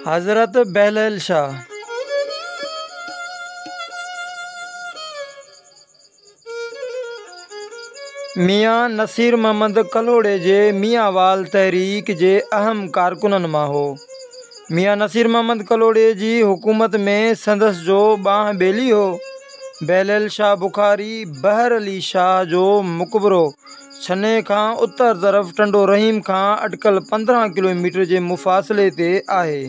حضرت بهليل شاهه ميان نصير محمد ڪلهوڙي جي ميان وال تحريڪ جي اهم ڪارڪنن مان هو. ميان نصير محمد ڪلهوڙي جي حڪومت ۾ سندس جو ٻانهن ٻيلي هو. بهليل شاهه بخاري بحر علي شاهه جو مقبرو ڇني کان اتر طرف ٽنڊو رحيم کان اٽڪل پندرهن ڪلو ميٽر جي مفاصلي تي آهي.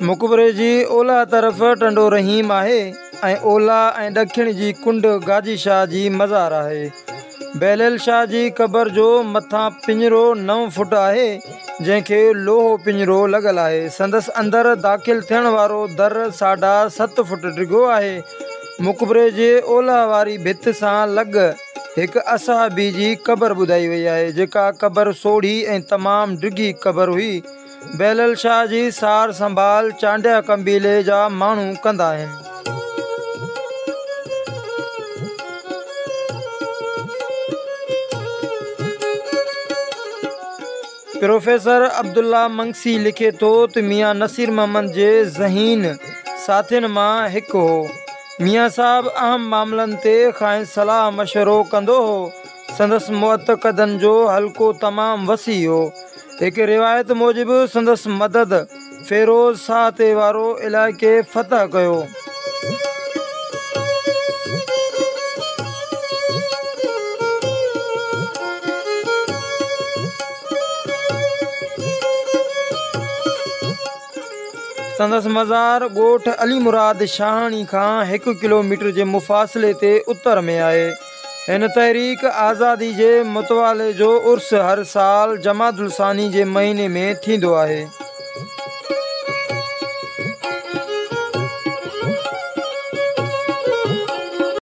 مقبري جي اولهه طرف ٽنڊو رحيم آهي ۽ اولهه ۽ ڏکڻ جي ڪنڊ گاجي شاهه جي مزار آهي. بهليل شاهه جي قبر جو مٿان پڃرو نو فوٽ آهي، جنهن کي لوهو پڃرو لڳل آهي. سندس اندر داخل ٿيڻ وارو در ساڍا ست فوٽ ڊگهو آهي. مقبري جي اولهه واري ڀت سان لڳ هڪ اصحابي جي قبر ٻڌائي وئي آهي، جيڪا قبر سوڙهي ۽ تمام ڊگهي قبر هئي. بهلول شاهه جي سار سنڀال چانڊيا قبيلي جا ماڻهو ڪندا آهن. پروفيسر عبدالله منگسي لکي ٿو ته ميان نصير محمد جي ذهين ساٿين مان هڪ هو. ميان صاحب اهم معاملن تي کانئس صلاح مشورو ڪندو هو. سندس معتقدن جو حلقو تمام وسيع هو. هڪ روايت موجب سندس مدد فيروز شاهه تي وارو علائقي فتح ڪيو. سندس مزار ڳوٺ علي مراد شاهاڻي کان هڪ ڪلوميٽر جي مفاصلي تي اتر ۾ آهي. هن تحريڪ آزادي جي متوالي جو عرس هر سال جمادي الثاني جي مهيني ۾ ٿيندو آهي.